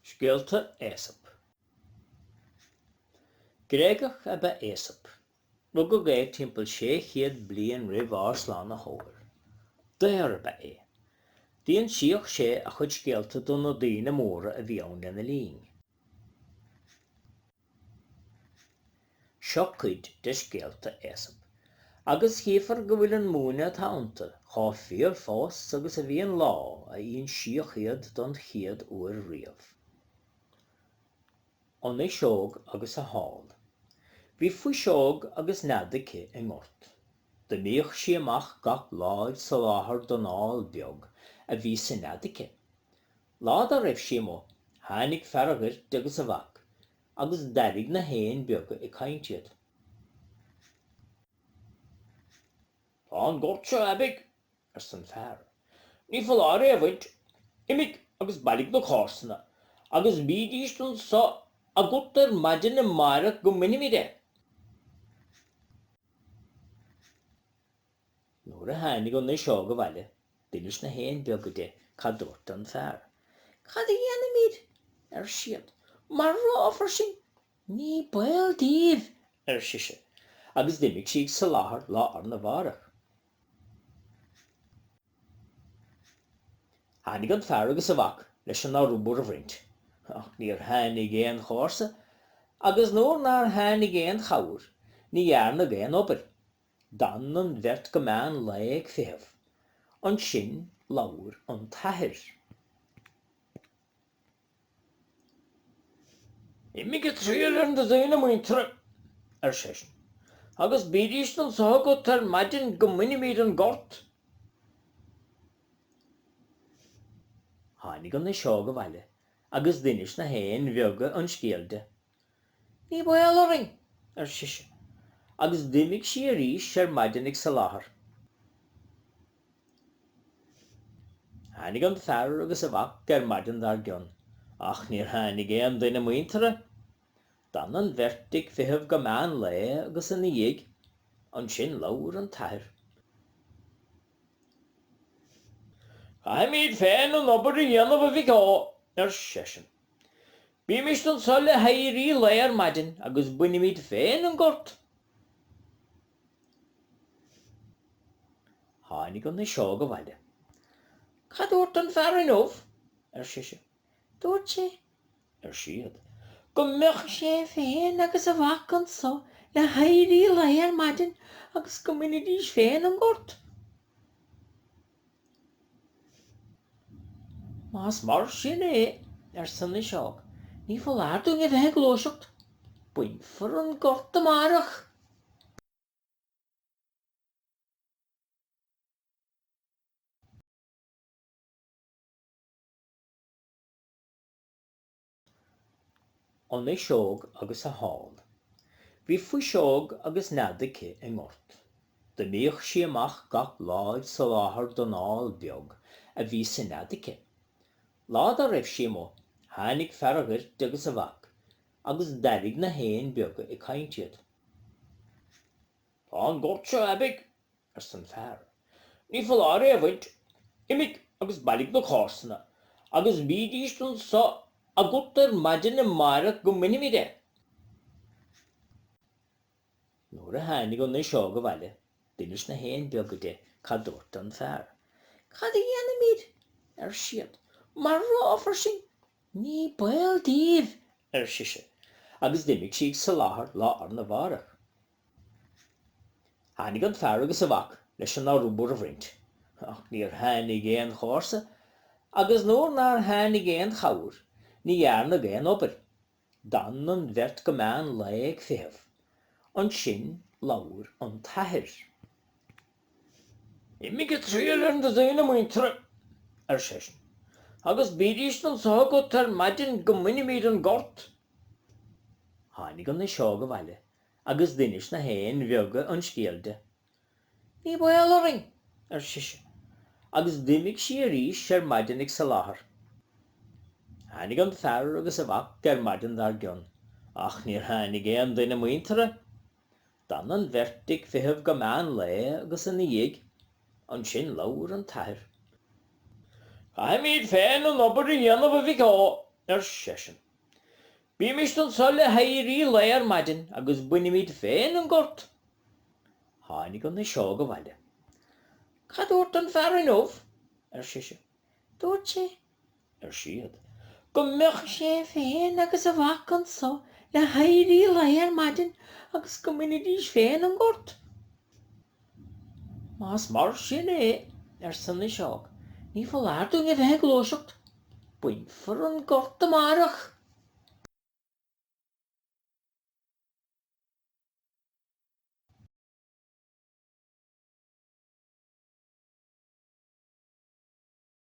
Scéalta Aesop. Gréagach ab ea Aesop. Rugadh é timpeall 600 bliain roimh ár Slánaitheoir. Daor ab ea é. D'insíodh sé a chuid scéalta do na daoine móra a bhí ann lena linn. Seo cuid de scéalta Aesop, agus chífear go bhfuil an múineadh atá iontu chomh fíor fós agus a bhí an lá a insíodh iad don chéad uair riamh. An Fhuiseog agus a hÁl. Bhí fuiseog agus nead aici i ngort. D'imíodh sí amach gach lá ag soláthar don ál beag a bhí sa nead aici. Lá dá raibh sí amuigh tháinig fear an ghoirt agus a mhac agus d'airigh na héin beaga ag caint iad. Tá an gort seo aibidh, arsa an fear. Ní foláir é a bhaint. Imigh agus bailigh na comharsana agus bídís anso agat ar maidin amáireach go mbainfimid é. Nuair a tháinig an fhuiseog abhaile d'inis na héin beaga di cad dúirt an fear. Cad a dhéanfaimid? ar siad. Marófar sinn! Ní baol daoibh! ar sise agus d'imigh sí ag soláthar lá arna mhárach. Tháinig an fear agus a mhac leis an arbhar a bhaint ach níor tháinig aon chomharsa agus nuair nár tháinig aon chabhair ní dhearnadh aon obair. D'fhan an bheirt go meán lae ag feitheamh. Ansin labhair an t-athair. Imigh ag triall ar na daoine muinteartha, ar seisean, agus bídís anso agat ar maidin go mbainfimid an gort. Tháinig an fhuiseog abhaile agus d'inis na héin bheaga an scéal di. Ní baol orainn, ar sise, agus d'imigh sí arís ar maidin ag soláthar. Tháinig an fear agus a mhac ar maidin dár gcionn, ach níor tháinig aon duine muinteartha. D'fhan an bheirt ag feitheamh go meán lae agus ina dhiaidh, ansin labhair an t-athair. Caithfimid féin an obair a dhéanamh, a mhic ó, ar seisean. Bímist anso le héirí lae ar maidin agus bainimid féin an gort. Tháinig an fhuiseog abhaile. Cad dúirt an fear inniu? ar sise. Dúirt sé, ar siad, go mbeadh sé féin agus a mhac anso le héirí lae ar maidin agus go mbainfidís féin an gort. Más mar sin é, arsa an fhuiseog, ní foláir dúinn a bheith ag gluaiseacht. Bainfear an gort amárach. an fhuiseog agus a hál. Bhí fuiseog agus nead aici i ngort. D'imíodh sí amach gach lá ag soláthar don ál beag a bhí sa nead aici. Lá dá raibh sí amuigh, tháinig fear an ghoirt agus a mhac, agus d'airigh na héin beaga ag caint iad. Tá an gort seo aibidh! arsa an fear. Ní foláir é a bhaint. Imigh agus bailigh na comharsana agus bídís anso agat ar maidin amáireach go mbainfimid é. Nuair a tháinig an fhuiseog abhaile d'inis na héin beaga di cad dúirt an fear. Cad a dhéanfaimid? ar siad. Marófar sinn! Ní baol daoibh, ar sise, agus d'imigh sí ag soláthar lá arna mháireach. Tháinig an fear agus a mhac leis an arbhar a bhaint, ach níor tháinig aon chomharsa, agus nuair nár tháinig aon chabhair, ní dhearnadh aon obair. D'fhan an bheirt go meán lae ag feitheamh. Ansin labhair an t-athair. Imigh ag triall ar na daoine muinteartha, ar seisean, agus bídís anso agat ar maidin go mbainfimid an gort. Tháinig an fhuiseog abhaile agus d'inis na héin bheaga an scéal di. Ní baol orainn! ar sise, agus d'imigh sí arís ar maidin ag soláthar. Tháinig an fear agus a mhac ar maidin dár gcionn, ach níor tháinig aon duine muinteartha. D'fhan an bheirt ag feitheamh go meán lae agus ina dhiaidh, ansin labhair an t-athair. Caithfimid féin an obair a dhéanamh, a mhic ó! ar seisean. Bímist anso le héirí lae ar maidin agus bainimid féin an gort. Tháinig an fhuiseog abhaile. Cad dúirt an fear inniu? ar sise. Dúirt sé, ar siad, go mbeadh sé féin agus a mhac anso le héirí lae ar maidin agus go mbainfidís féin an gort. Más mar sin é, arsa an fhuiseog, ní foláir dúinn a bheith ag gluaiseacht. Bainfear an gort amárach.